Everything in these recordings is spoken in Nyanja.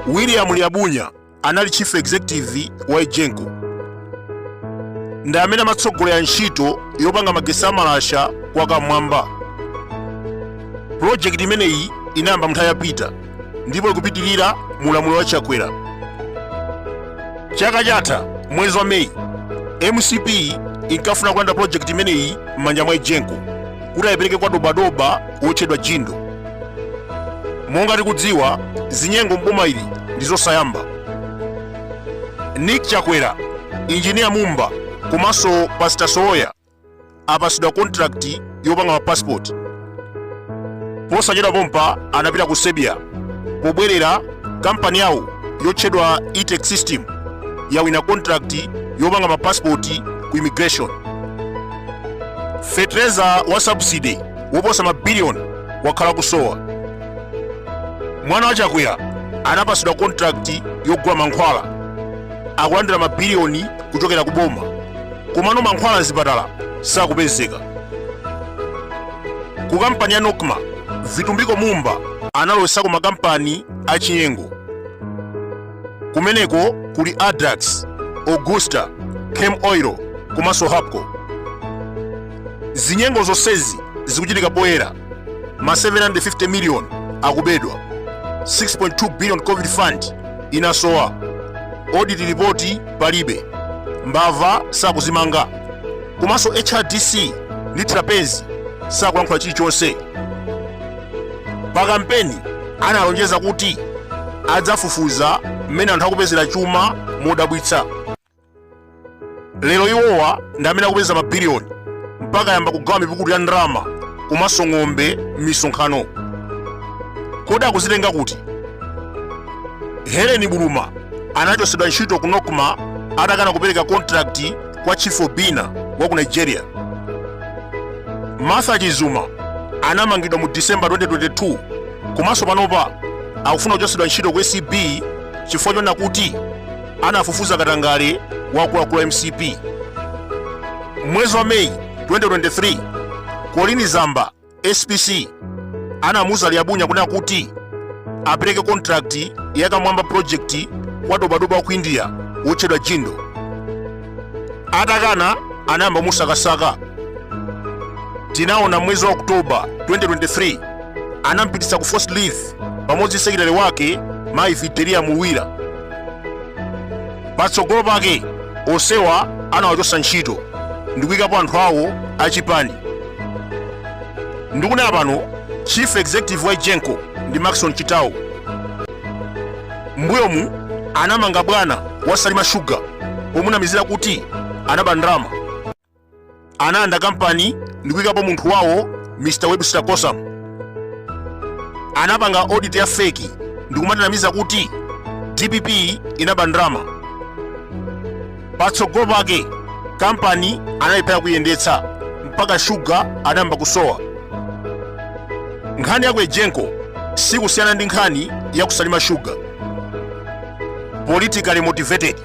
william liabunya anali chief executive wa egenco ndi amene amatsogolera ntchito yopanga magesi amalasha kwa kamwamba pulojekiti imeneyi inayamba mnthawi yapita ndipo ikupitirira mu ulamuliro wa chakwera chaka chatha mwezi wa meyi mcp inkafuna kulanda projekti imeneyi m'manja mwa egenco kuti ayipereke kwa dobadoba wotchedwa jindal monga tikudziwa zinyengo mboma ili ndi zosayamba nick chakwera injiniya mumba komanso pasita sowoya apatsidwa contract yopanga ma passport posachedwa pompa anapita ku serbia pobwerera kampani yawo yotchedwa e-tech system yawina contract yopanga ma passport ku immigration fetereza wa subsidy woposa mabiliyoni wakhala kusowa mwana wa chakwera anapatsidwa contract yogula mankhwala akulandira mabiliyoni kuchokera ku boma komano mankhwala azipatala sakupezeka ku kampani ya nocma vitumbiko mumba analowetsako makampani achinyengo kumeneko kuli addax augusta camel oil komanso hapco zinyengo zonsezi zikuchitika poyera ma 750 million akubedwa 6.2 billion covid fund inasowa audit report palibe mbava sakuzimanga komanso hrdc ndi trapence sakulankhula chilichonse pa kampeni analonjeza kuti adzafufuza mmene anthu akupezera chuma modabwitsa lero iwowa ndi amene akupeza mabiliyoni mpaka ayamba kugawa mipukutu ya ndalama komanso ng'ombe m'misonkhano kodi akuzitenga kuti helen buluma anachotsedwa ntchito ku nocma atakana kupereka kontrakti kwa chief obina wa ku nigeria martha chizuma anamangidwa mu december 2022 komanso panopa akufuna kuchotsedwa ntchito ku acb chifukwa chonena kuti anafufuza katangale wa akuluakulu a mcp mwezi wa meyi 2023 colleen zamba spc anamuuza liabunya kunena kuti apereke kontrakti ya kamwamba projekti kwa dobadoba wa ku india wotchedwa jindal atakana anayamba musakasaka tinaona mwezi wa oktoba 2023 anampititsa ku forced leave pamodzi ndi sekitale wake mayi videlia mluwira patsogolo pake onsewa anawachotsa ntchito ndikuyikapo anthu awo achipani ndikunena pano chief executive wa egenco ndi maxon chitawo mbuyomu anamanga bwana wa salima shuga pomunamizira kuti anaba ndalama analanda kampani ndi kuyikapo munthu wawo mr webster kossam anapanga audit ya feki ndi kumatanamiza kuti dpp inaba ndalama patsogolo pake kampani anayilephera kuyendetsa mpaka shuga anayamba kusowa nkhani ya ku egenco sikusiyana ndi nkhani ya kusalima shuga politically motivated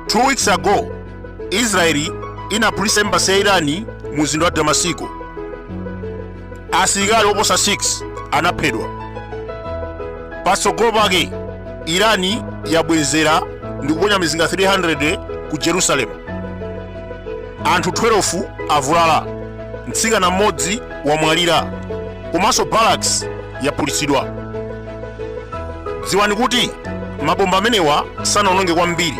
Two weeks ago, Israeli inaphulitsa embasi ya Irani mu mzinda wa Damasiko. Asilikali oposa 6 anaphedwa. Patsogolo pake, Irani yabwezera ndi kuponya mizinga 300 ku Jerusalem. Anthu 12 avulala, mtsikana mmodzi wamwalira komanso barracks yaphulitsidwa. Dziwani kuti mabomba amenewa sanaononge kwambiri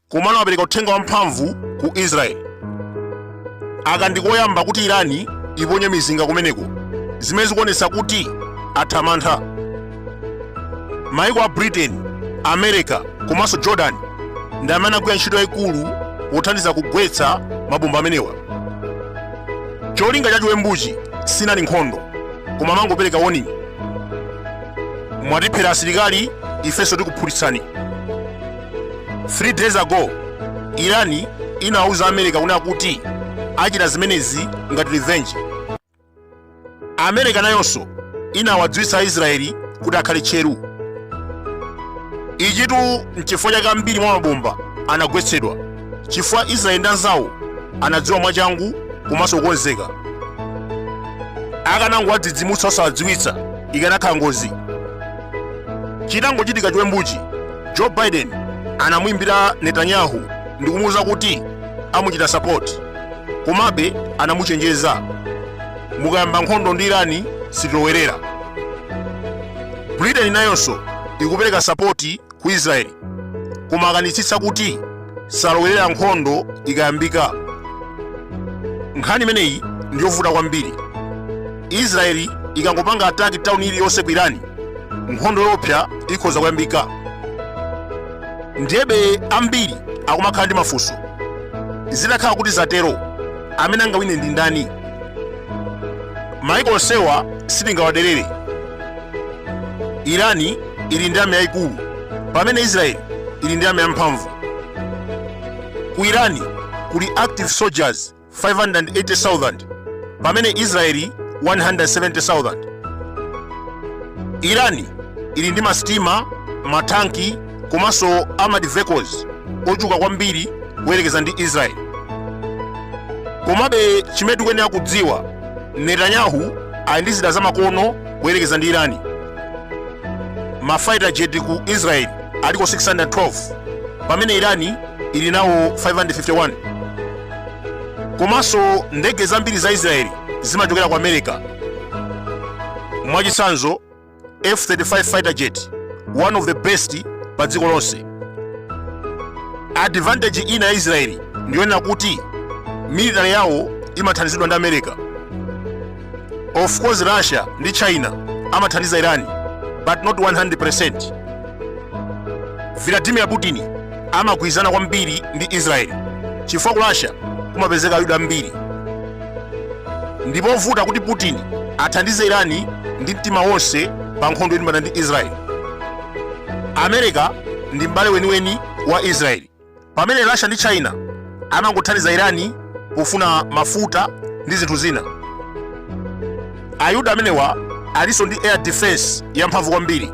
komano apereka uthenga wamphamvu ku Israeli. Aka ndi koyamba kuti Irani iponye mizinga kumeneko zimene zikuonetsa kuti atha mantha. maiko a britain america komanso jordan ndi amene agwira ntchito yayikulu pothandiza kugwetsa mabomba amenewa cholinga cha chiwembuchi sinali nkhondo koma amangopereka warning mwatiphera asilikali ifenso tikuphulitsani 3 days ago irani inawuza america kunena kuti achita zimenezi ngati revenge amerika nayonso inawadziwitsa aisraeli kuti akhale tcheru ichitu nchifukwa chake ambiri mwa mabomba anagwetsedwa chifukwa israeli ndi anzawo anadziwa mwachangu komanso kukonzeka akanangowadzidzimutsa osawadziwitsa ikanakhala ngozi chitangochitika chiwembuchi joe biden anamuimbira netanyahu ndikumuwuza kuti amuchita sapoti Komabe anamuchenjeza, mukayamba nkhondo ndi Irani sitilowerera. Britain nayonso ikupereka sapoti ku Israeli koma akanitsitsa kuti salowerera nkhondo ikayambika. Nkhani imeneyi ndi yovuta kwambiri. Israeli ikangopanga ataki tauni iliyonse ku Irani, nkhondo yoopsa ikhoza kuyambika. ndiyebe ambiri akumakhala ndi mafunso zitakhala kuti zatero amene angawine ndi ndani maiko onsewa sitingawaderere irani ili ndi army yayikulu pamene israeli ili ndi army yamphamvu ku irani kuli active soldiers 580,000 pamene Israeli 170,000. Irani ili ndi masitima, matanki komanso armored vehicles ochuluka kwambiri kuyerekeza ndi Israeli. Komabe chimene tikuyenera kudziwa, Netanyahu ali ndi zida zamakono kuyerekeza ndi Irani. Ma fighter jet ku Israeli aliko 612 pamene Irani ili nawo 551. komanso ndege zambiri za israeli zimachokera ku america mwachitsanzo f-35 fighter jet one of the best pa dziko lonse advantage ina ya israeli ndiyonena kuti military yawo imathandizidwa ndi america of course russia ndi china amathandiza irani but not 100% vladimir putin amagwirizana kwambiri ndi israeli chifukwa ku russia kumapezeka ayuda ambiri ndi povuta kuti putin athandize irani ndi mtima wonse pa nkhondo yolimbana ndi israeli america ndi m'bale weniweni wa israeli pamene Russia ndi China amangothandiza Irani pofuna mafuta ndi zinthu zina. Ayuda amenewa alinso ndi air defense yamphamvu kwambiri,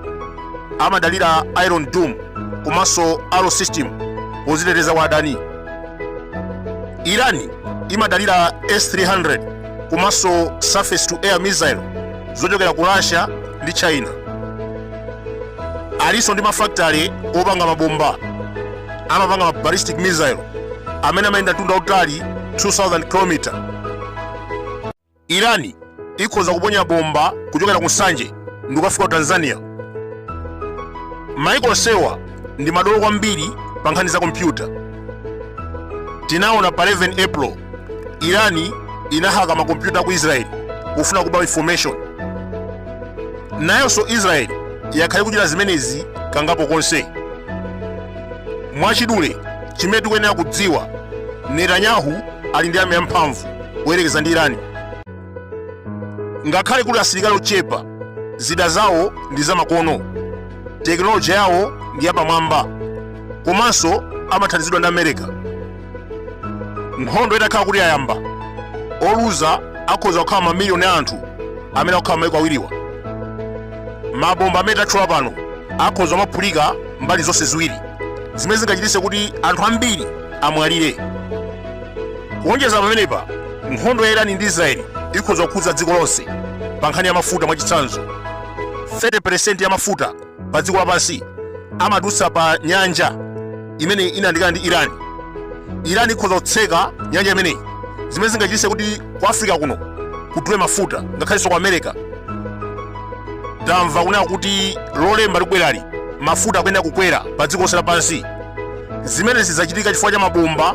amadalira Iron Dome komanso Arrow system poziteteza kwa adani. Irani imadalira S-300 komanso surface to air missile zochokera ku Russia ndi China. alinso ndi mafakitale opanga mabomba amapanga ma ballistic missile amene amayenda mtunda utali 2000 km irani ikhoza kuponya bomba kuchokera ku nsanje ndi kukafika ku tanzania maiko onsewa ndi madolo kwambiri pa nkhani za kompyuta tinaona pa 11 april irani inahaka makompyuta a ku israeli kufuna kuba information nayonso israeli yakhala ikuchita zimenezi kangapo konse mwachidule chimene tikuyenera kudziwa netanyahu ali ndi army yamphamvu kuyerekeza ndi irani ngakhale kuli asilikali ochepa zida zawo ndi zamakono tekinoloji yawo ndi yapamwamba komanso amathandizidwa ndi america nkhondo itakhala kuti yayamba oluza akhoza kukhala mamiliyoni a anthu amene akukhala maiko awiriwa mabomba amene tatchula pano akhoza kumaphulika mbali zonse ziwiri zimene zingachititse kuti anthu ambiri amwalire kuonjeza pamenepa nkhondo ya irani ndi israeli ikhoza kukhudza dziko lonse pa nkhani ya mafuta mwachitsanzo 30 peresenti ya mafuta pa dziko lapansi amadutsa pa nyanja imene inayandikana ndi irani irani ikhoza kutseka nyanja imeneyi zimene zingachititse kuti ku africa kuno kudule mafuta ngakhalenso ku america tamva kunena kuti lolemba likubwerali mafuta akuyenera kukwera pa dziko lonse lapansi zimene zidzachitika chifukwa cha mabomba